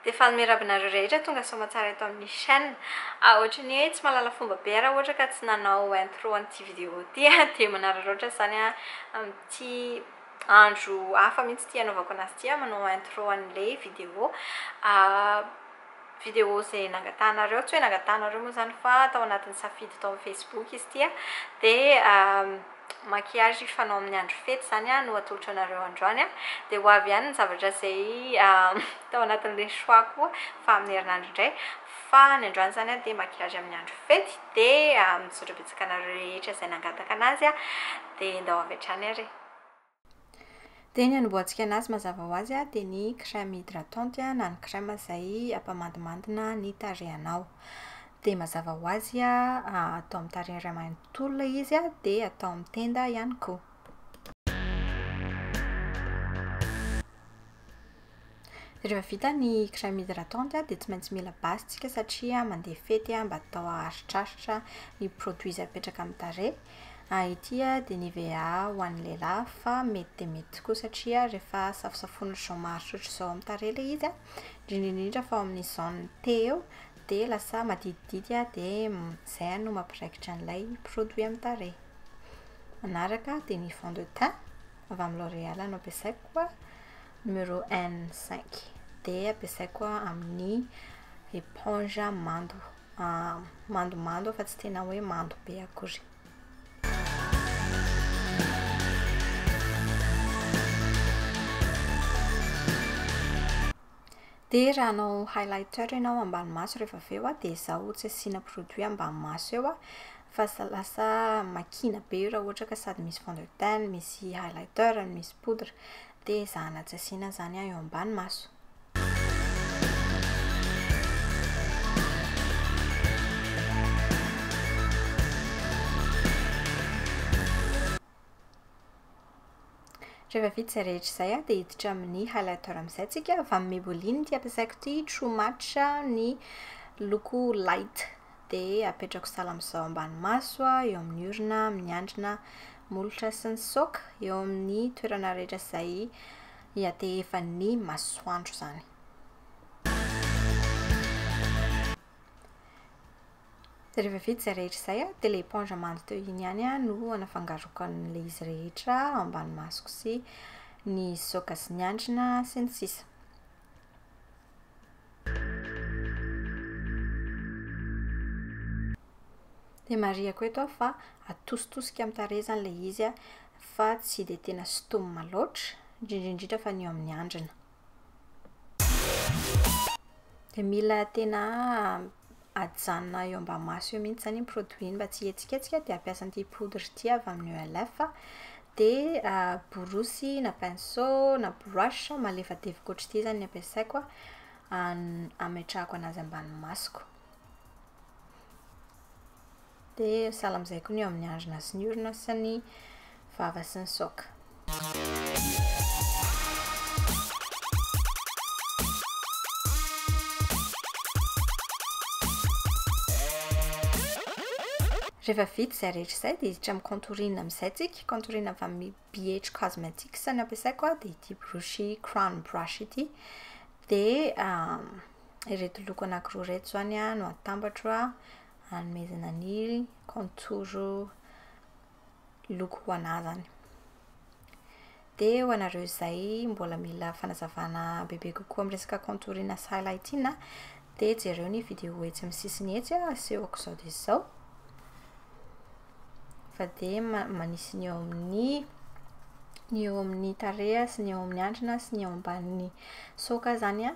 Dia fanome rabinareo rehetra tonga soamatsara eto amin'ny chaîne. Ah ohatry ny hoe tsy mahalala fomba be aho raha ohatra ka tsy nanao intro an'ity vidéo ity ah, dia manararaotra izany aho amin'ity andro hafa mihitsy ity hanaovako anazy ity ah, manao intro an'ilay vidéo vidéo izay nangatahanareo, tsy hoe nangatahanareo moa izany fa tao anatin'ny safidy tao amin'ny facebook izy ity ah, dia maquillage fanao amin'ny andro fety zany no atolotro anareo androany a, dia ho avy ihany ny zavatra izay tao anatin'ilay choix koa fa amin'ny herinandro indray, fa ny androany izany dia maquillage amin'ny andro fety, dia misaotra betsaka anareo rehetra izay nangataka an'azy a, dia ndao avy hatrany ary e. Dia ny anombohantsika anazy mazava ho azy dia ny crème hydratante na ny crème izay hampamandimandina ny tarehinao. Dia mazava ho azy atao amin'ny tarehy iray manontolo ilay izy an, dia atao amin'ny tenda ihany koa. Rehefa vita ny crème hydratante dia tsy maintsy mila basy tsika satria mandeha fety mba atao haharitraritra ny produits izay apetraka amin'ny tarehy. Ity dia Nivea ho an'ny lehilahy fa mety dia mety tokoa satria rehefa safosafoina ohatr'izao maharitra ohatr'izao amin'ny tarehy ilay izy an, indrindra indrindra fa ao amin'ny zone T eo dia lasa maditidity dia izay no mampiraikitra an'ilay produit amin'ny tarehy. Manaraka dia ny fond de teint avy amin'ny L'oréal no ampiasaiko Numéro un, cinq, dia ampiasaiko koa amin'ny éponge mando, mandomando fa tsy tena hoe mando be akory. Dia raha hanao highlighter ianao ambany maso rehefa avy eo dia izaho tsy asiana produit ambany maso eo fa lasa makiana be io raha ohatra ka sady misy fond de teint, misy highlighter, misy poudre. Te ezahana tsy asiana zany ahy eo ambany maso. Rehefa vita izay rehetra izay a, dia hiditra amin'ny highlighter amin'izay tsika fa amin'ny Maybelline ity ampiasaiko ity true match ny loko light dia apetrako sahala amin'izao ambany maso a, eo amin'ny orona, amin'ny andrina, Molotra sy nisaoka eo amin'ny toerana rehetra izay iatehefan'ny masoandro izany. Dia rehefa vita izay rehetra izay an, dia ilay éponge mando teo iny ihany an no anafangaroako an'ilay izy rehetra ao ambany masoko sy ny saoka sy ny andrina sy ny sisa. Dia marihako eto aho fa atositosika amin'ny tarehy izany ilay izy fa tsy dia tena sintomina loatra, indrindra indrindra fa ny eo amin'ny andrina. Dia mila tena ajanona eo ambamaso eo mihitsy izany iny produit iny mba tsy hihetsiketsika dia ampiasa an'ity poudre ity avy amin'ny ELF dia borosy na pinceau na brush malefadefaka ohatr'ity izany ny ampiasaiko ametrahako an'azy ambany masoko Dia salamizay koa ny eo amin'ny andrina sy ny orina sy ny vava sy ny saoka. Rehefa vita izay rehetra izay dia hiditra amin'ny contourine amin'izay tsika, contourine avy amin'ny BH Cosmetics no ampiasaiko aho, dia ity brochy crown brush ity. Dia ireto loko anankiroa ireto izany no atambatro, hanomezana ny contour loko ho an'azany. Dia ho anareo izay mbola mila fanazavana bebe kokoa amin'ny resaka contour na highlighting a, dia jereo ny vidéo etsy amin'ny sisiny etsy a, asehoko izao dia izao. Fa dia ma- manisy ny eo amin'ny ny eo amin'ny tarehy sy ny eo amin'ny andrina sy ny eo ambanin'ny soka izany an,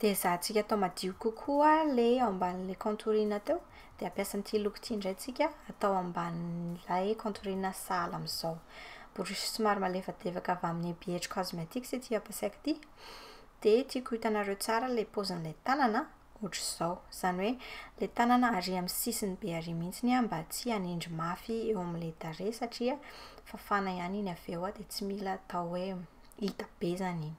Dia ezahantsika atao madio kokoa ilay eo ambanin'ilay contourine teo, dia ampiasa an'ity loko ity indray tsika atao ambanin'ilay contourine sahala amin'izao. Borosy somary malefadefaka avy amin'ny ebiedry cosmetics ity ampiasaiko ity. Dia tiako hitanareo tsara ilay paozin'ilay tanana, ohatr'izao. Izany hoe ilay tanana arỳ amin'ny sisiny be arỳ mihitsy an, mba tsy hanindry mafy eo amin'ilay tarehy satria fafana ihany iny avy eo dia tsy mila atao hoe hita be izany iny.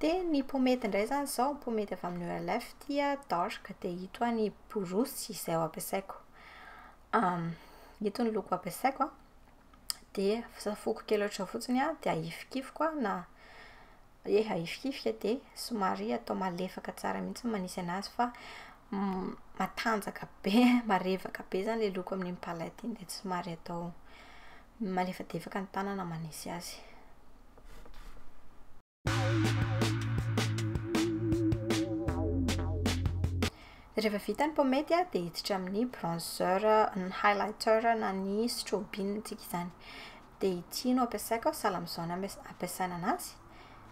Dia ny pomety indray izany izao, pomety avy amin'ny OLF dia dark, dia ito hoa ny borosy izay ho ampiasaiko. Ito ny loko ampiasaiko an, dia safoko kely ohatra fotsiny an, dia ahifikifiko na ie ahifikifika dia somary atao malefaka tsara mihitsy ny manisy an'azy fa matanjaka be, marevaka be izany ilay loko amin'iny palette iny dia somary atao Malefadefaka ny tanana manisy azy. Rehefa vita ny pomade dia hiditra amin'ny bronzer, ny highlighter na ny strobing tsika izany. Dia ity no ampiasaiko aho, sahala amin'izao no ampiasaina an'azy.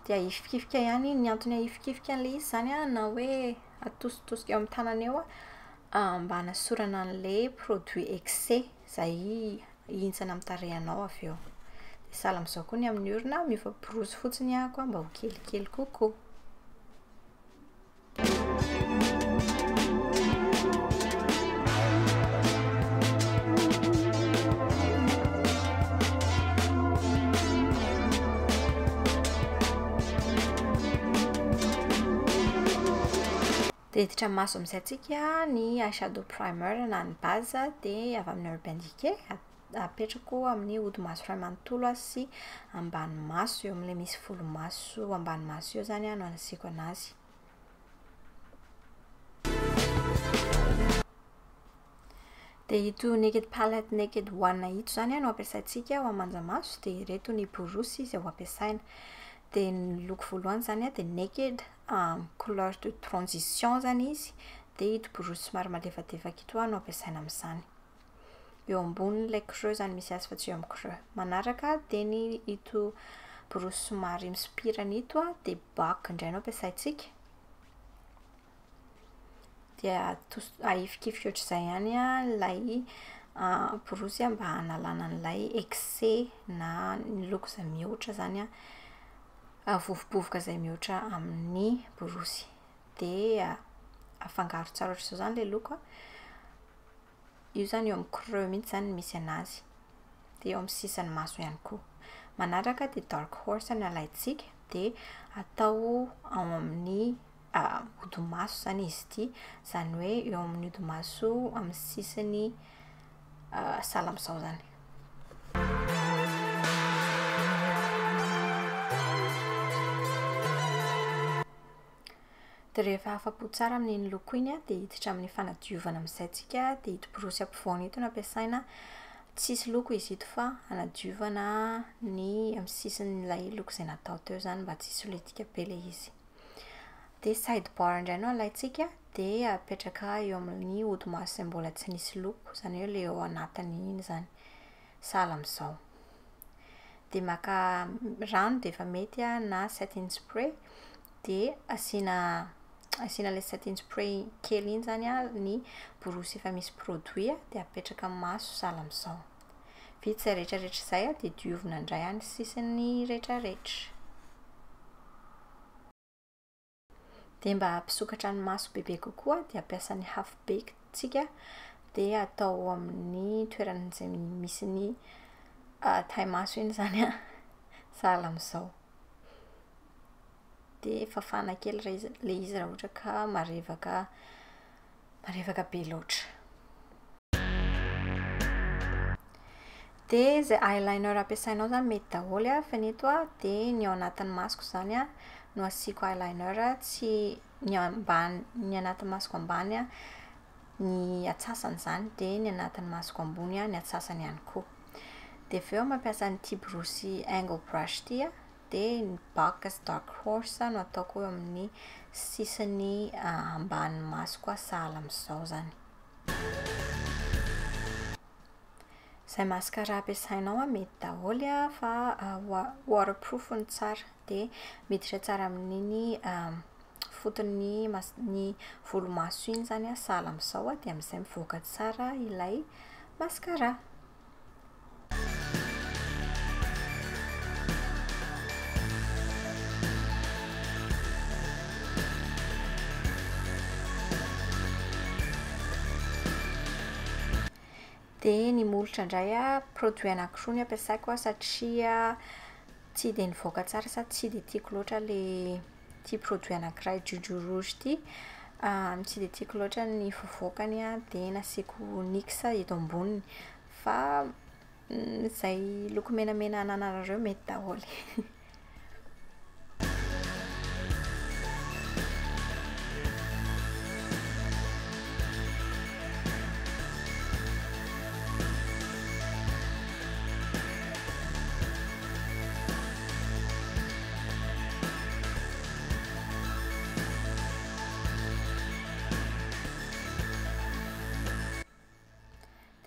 Dia ahifikifika ihany, ny antony ahifikifika an'ilay izy izany an, na hoe atositosika eo amin'ny tanana eo an, mba hanasorana an'ilay produit excès. Izay hihintsana amin'ny tarehinao avy eo. Dia sahala amin'izao koa ny amin'ny orona, miova-borosy fotsiny ihany koa mba ho kelikely kokoa. Miditra maso amin'izay antsika ny eye shadow primer na ny base dia avy amin'ny Urban Decay, apetrako amin'ny hodi-maso iray manontolo sy ambany maso, eo amin'ilay misy volomaso ambany maso eo izany no anasiako an'azy. Dia ito Naked Palette Naked One ito izany no ampiasaintsika ho aman-jamaso, dia ireto ny borosy izay ho ampiasaina. Dia ny loko voalohany izany dia Naked, amin'ny couleur de transition izany izy dia ito borosy somary malefadefaka ito no ampiasaina amin'izany, eo ambonin'ilay creux izany misy azy fa tsy eo amin'ny creux, manaraka dia ny ito borosy somary misopirana ito dia bac indray no ampiasaintsika, dia ahifikifika ohatr'izay ihany ilay borosy mba hanalana an'ilay excès na ny look izay mihoatra izany vovobovoka izay mihoatra amin'ny borosy. Dia afangaro tsara ohatr'izao izany ilay loko an. Io izany eo amin'ny creux mihitsy izany no misy anazy. Dia eo amin'ny sisan'ny maso ihany koa. Manaraka dia dark horse no alaintsika, dia atao ao amin'ny hodimaso izany izy ity, izany hoe eo amin'ny hodimaso amin'ny sisin'ny sahala amin'izao izany. Dia rehefa afa-po tsara amin'iny loko iny dia hiditra amin'ny fanadiovana amin'izay tsika, dia ito borosy ampovoany ito no ampiasaina, tsy hisy loko izy ito fa hanadiovana ny amin'ny sisin'ilay loko izay natao teo izany mba tsy hisolitika be ilay izy. dia side bar indray no alaintsika dia apetraka eo amin'ny hodimaso izay mbola tsy nisy loko izany hoe ilay ao anatiny iny izany sahala amin'izao dia maka rano dia efa mety na setting spray dia asiana asiana ilay setting spray kely iny izany ny borosy efa misy produit dia apetraka amin'ny maso sahala amin'izao Vita izay rehetrarehetra izay dia diovina indray any sisiny rehetrarehetra. Dia mba hampisokatra ny maso bebe kokoa dia ampiasa ny half baked tsika dia atao amin'ny toerana izay misy ny ah, taille maso iny izany an, sahala amin'izao. dia fafana kely ilay izy ilay izy raha ohatra ka marevaka marevaka be loatra. Dia izay eyeliner ampiasainao izany mety daholo an, fa ny eto an, dia ny ao anatin'ny masoko izany an no asiako eyeliner, tsy ny ambany ny anatin'ny masoko ambany an ny atsasany izany, dia ny anatin'ny masoko ambony an ny atsasany ihany koa. Dia avy eo mampiasa an'ity borosy angle brush ity an. dia ny baka sy dark horse no ataoko eo amin'ny sisiny ambanin'ny masoko aho sahala amin'izao izany. Izay mascara ampiasainao mety daholo fa waterproof no tsara dia miditra tsara amin'iny foton'ny ny volomaso iny izany sahala amin'izao dia amin'izay mivoaka tsara ilay mascara. Dia ny molotra indray an, produit anankiroa ny ampiasaiko satria tsy dia nivoaka tsara sady tsy dia tiako loatra ilay ity produit anankiray Juju Rouge ity. Tsy dia tiako loatra ny fivoakany dia nasiako nix eto amboniny. Fa izay loko menamena anananareo mety daholo e.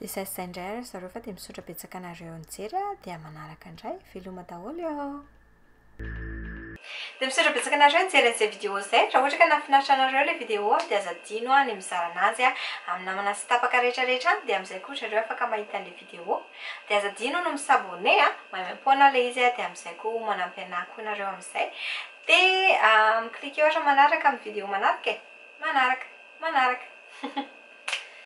Dia izay izay indray ary zareo fa dia misaotra betsaka anareo nijery a, dia manaraka indray, veloma daholo eo. Dia misaotra betsaka anareo nijery an'izay vidéo izay, raha ohatra ka nahafinaritra anareo ilay vidéo dia aza adino a ny mizara anazy a amin'ny namana sy tapaka rehetra rehetra any dia amin'izay koa ry zareo afaka mahita an'ilay vidéo. vidéo de aza adino ny mi s'abonner a, maimaimpoana ilay izy a, de amin'izay koa ho manampy anahy koa nareo amin'izay, de mi-cliquer ohatra manaraka amin'ny vidéo manaraka e! manaraka! manaraka!